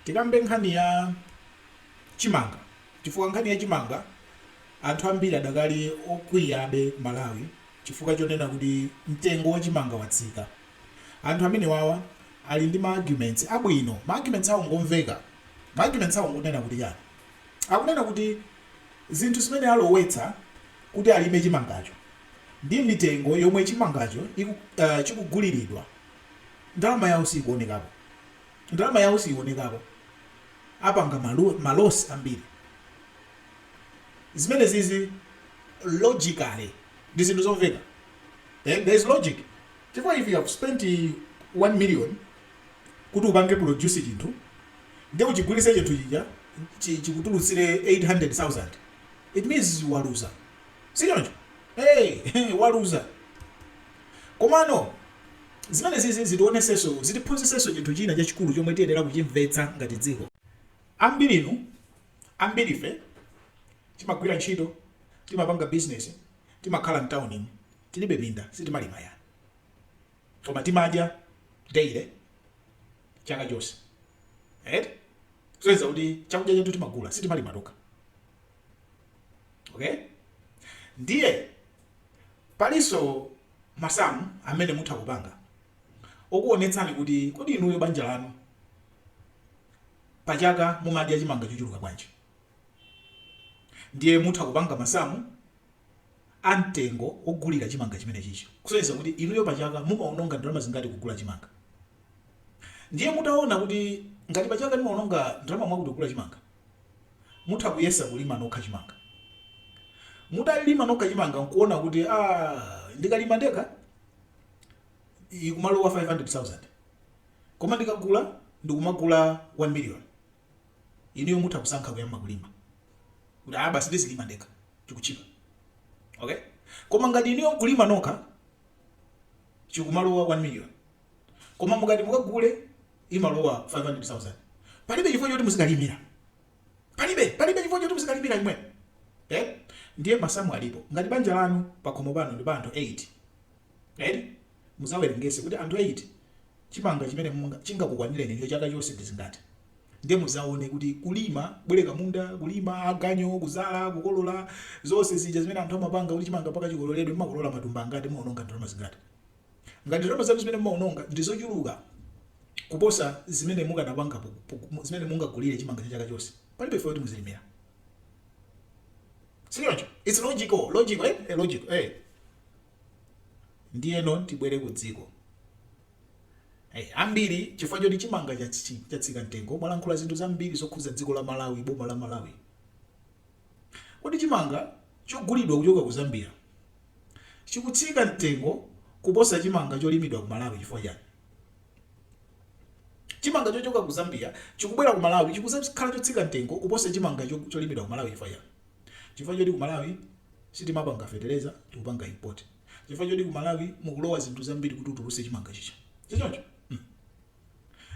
Tikambe nkhani ya chimanga chifukwa nkhani ya chimanga anthu ambiri adakali okwiyabe ku Malawi chifukwa chonena kuti mtengo wa chimanga watsika. Anthu amenewawa ali ndi ma arguments abwino. Ma arguments awo ngomveka. Ma arguments awo ngonena kuti chani? Akunena kuti zinthu zimene alowetsa kuti alime chimangacho ndi mitengo yomwe chimangacho chikuguliridwa ndalama yawo siikuonekapo. Ndalama yawo siyionekako apanga ma loss ambiri zimenezizi logically ndi zinthu zomveka eh there is logic chifukwa if you have spent 1 million kuti upange produce chinthu ndi kuchigulitsa chinthu chija chikutulutsire 800,000 it means waluza sichoncho hey waluza komano Zimenezizi zitionetsenso, zitiphunzitsenso chinthu china chachikulu chomwe tiyenera kuchimvetsa ngati dziko. Ambirinu, ambirife timagwira ntchito, timapanga bizinesi, timakhala m'taunimu, tilibe minda, sitimalima yayi. Koma timadya daily, chaka chonse, eti? Zionetsa kuti chakudya chathu timagula, sitimalima tokha. okay ndiye palinso masamu amene mutha kupanga okuonetsani kuti kodi inuyo banja lanu pachaka mumadya chimanga chochuluka bwanji ndiye mutha kupanga masamu a mtengo ogulira chimanga chimenechichi kusonyeza kuti inuyo pachaka mumaononga ndalama zingati kugula chimanga ndiye mutaona kuti ngati pachaka ndimaononga ndalama mwakuti kugula chimanga Mutha kuyesa kulima nokha chimanga. Mutalima nokha chimanga nkuona kuti aah ndikalima ndekha ikumalowa 500,000 koma ndikagula ndikumagula 1 million. Inuyo mutha kusankha kuyamba kulima kuti aah basi ndizilima ndekha chikutchipa okay koma ngati inuyo kulima nokha chikumalowa 1 million. koma mukati mukagule imalowa 500000 palibe chifukwa choti muzikalimira palibe palibe chifukwa choti muzikalimira inu eh? ndiye masamu alipo ngati banja lanu pakhomo pano ndi pa anthu 8 eh? muzawerengese kuti anthu 8 chimanga chimene munga- chingakukwanireni ndicho chaka chonse ndi zingati ndiye muzaone kuti kulima bwereka munda kulipira aganyu kuzala kukolola zonse zija zimene anthu amapanga kuti chimanga mpaka chikololedwe mwakolola matumba angati mwaononga ndalama zingati Ngati ndalama zanu zimene mumawononga ndi zochuluka kuposa zimene mukanapanga zimene mungagulire chimanga cha chaka chonse, palibe chifukwa choti muzilimira. Si choncho? It's logical, logical, eh? Eh, logical, eh. Ndiyeno tibwere ku dziko. Hey, eh, ambiri chifukwa choti chimanga chatsika mtengo mwalankhula zinthu zambiri zokhudza dziko la Malawi, boma la Malawi. Kodi chimanga chogulidwa kuchoka ku Zambia chikutsika mtengo kuposa chimanga cholimidwa ku Malawi chifukwa chani? Chimanga chochoka ku Zambia chikubwera ku Malawi chikuzakhala chotsika mtengo kuposa chimanga cholimidwa ku Malawi chifukwa chani? Chifukwa choti ku Malawi sitimapanga fetereza tikupanga import. Chifukwa choti ku Malawi mukulowa zinthu zambiri kuti utuluse chimanga chija. Sichoncho? Hmm.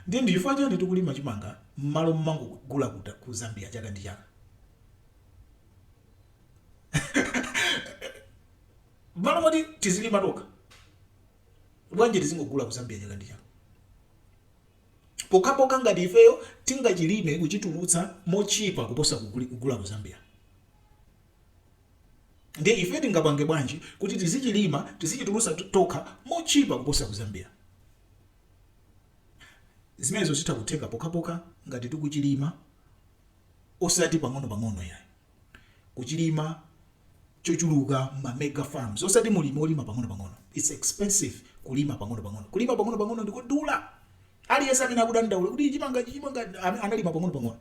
Nde ndi chifukwa chani tikulima chimanga mmalo momangogula ku Zambia chaka ndi chaka? Mmalo moti tizilima tokha bwanji tizingogula ku Zambia chaka ndi chaka? Pokhapokha ngati ifeyo tingachilime kuchitulutsa motchipa kuposa kugula ku Zambia. Ndiye ife tingapange bwanji kuti tizichilima, tizichitulutsa tokha motchipa kuposa ku Zambia? Zimenezo zitha kutheka pokhapokha ngati tikuchilima osati pang'onopang'ono yayi. Kuchilima chochuluka mma mega farms osati mulimi olima pang'onopang'ono. It's expensive kulima pang'onopang'ono. Kulima pang'onopang'ono ndikodula. Aliyense amene akudandaula kuti chimangachi chimanga am, analima pang'onopang'ono.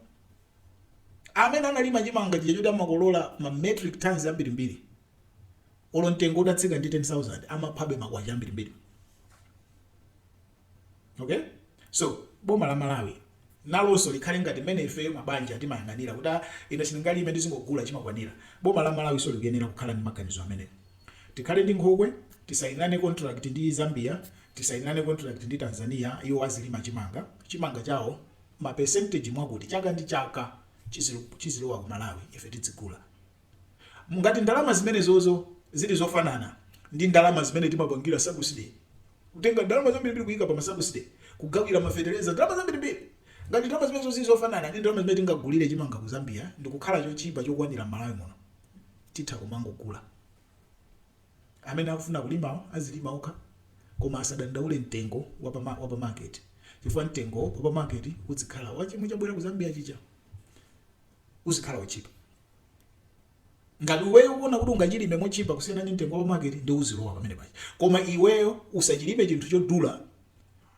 Amene analima chimanga chija choti amakolola ma metric tons ambirimbiri Olo mtengo utatsika ndi 10,000 amaphabe makwacha ambirimbiri. Okay? So, boma la Malawi nalonso likhale ngati mmene ifeyo mabanja timayang'anira kuti ah, ine sindingalime ndizingogula chimakwanira. Boma la Malawinso likuyenera kukhala ndi maganizo amenewo. Tikhale ndi nkhokwe, tisainirane contract ndi Zambia, tisainirane contract ndi Tanzania, iwo azilima chimanga. Chimanga chawo ma percentage akuti chaka ndi chaka chizilu- chizilowa ku Malawi ife tidzigula. Ngati ndalama zimenezozo zili zofanana ndi ndalama zimene timapangira sabuside, kutenga ndalama zambirimbiri kuika pa masabuside, kugawira mafetereza, ndalama zambirimbiri, ngati ndalama zimenezo zili zofanana ndi ndalama zimene tingagulire chimanga ku Zambia ndikukhala chotchipa chokwanira m'Malawi muno, titha kumangogula. Amene akufuna kulimawo azilima okha koma asadandaule mtengo wa pa market chifukwa mtengo wa pa market udzikhala wa chomwe chabwera ku Zambia chija uzikhala wotchipa. Ngati iweyo ukuona kuti ungachilime motchipa kusiyana ndi mtengo wa pa market ndiye uzilowa pamene paja koma iweyo usachilime chinthu chodula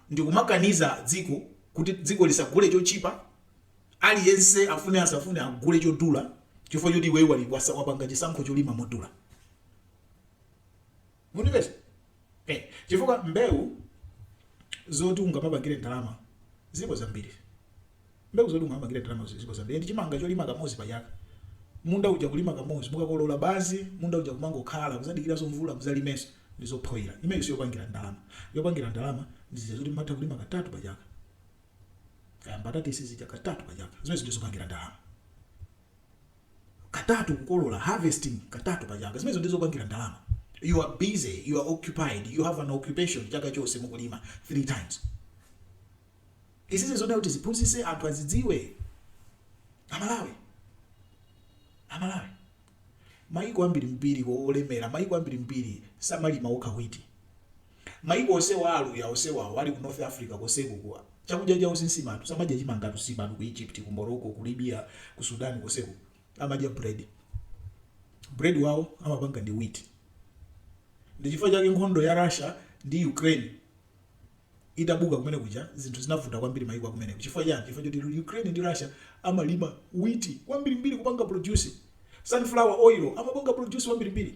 ndikumakaniza dziko kuti dziko lisagule chotchipa aliyense afune asafune agule chodula chifukwa chokuti iweyo wapanga chisankho cholima modula. mundipeza eh, chifukwa mbewu zoti ungamapangire ndalama zilipo zambiri mbewu zoti ungamapangire ndalama zilipo zambiri ndi chimanga cholima kamodzi pachaka munda uja kulima kamodzi mukakolola basi munda uja kumangokhala kudzadikira za mvula mudzalimenso ndi zofoira imeyi siyopangira ndalama yopangira ndalama ndizija zoti mumatha kulima katatu pachaka kaya mbatata isizija katatu pachaka zimene zija zopangira ndalama katatu kukolola, harvesting katatu pa chaka zimenezo ndiye zopangira ndalama you are busy you are occupied you have an occupation chaka chonse mukulima three times izizi zofuna kuti ziphunzitse anthu azidziwe amalawi amalawi mayiko ambiri mbiri olemera mayiko ambiri mbiri samalima okha wheat Maiko onsewa a Aluya onsewawo ali ku North Africa konseko ku chakudya chawo si nsima anthu samadya chimangatu nsimatu ku Egypt ku Morocco ku Libya ku Sudan konseko amadya bread bread wawo amapanga ndi wheat ndichifukwa chake nkhondo ya Russia ndi Ukraine itabuka kumene kuja zinthu zinavuta kwambiri maiko akumeneko chifukwa chani chifukwa choti Ukraine ndi Russia amalima wheat kwambiri mbiri amapanga produce sunflower oil amapanga produce kwambiri mbiri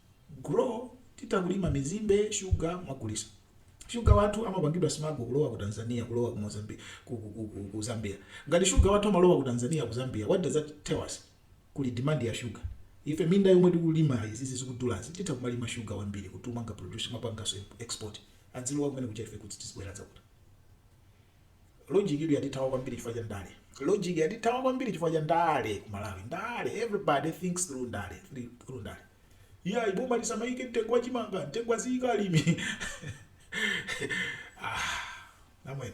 grow titha kulima mizimbe sugar kumagulitsa sugar wathu amapangidwa smuggle kulowa ku Tanzania kulowa ku Mozambique ku, ku, ku, ku, ku Zambia ngati sugar wathu amalowa ku Tanzania ku Zambia what does that tell us kuli demand ya sugar ife minda yomwe tikulima izizi zikudulazi titha kumalima sugar wambiri kuti tizipanga produce kumapanganso export azilowa kumeneku ife kuti tizibwera dzakuti logic itu yatithawa kwambiri chifukwa cha ndale logic yatithawa kwambiri chifukwa cha ndale ku malawi ndale everybody thinks through ndale through ndale iyayi boma lisamayike mtengo wa chimanga mtengo aziyika alimi ah, namwene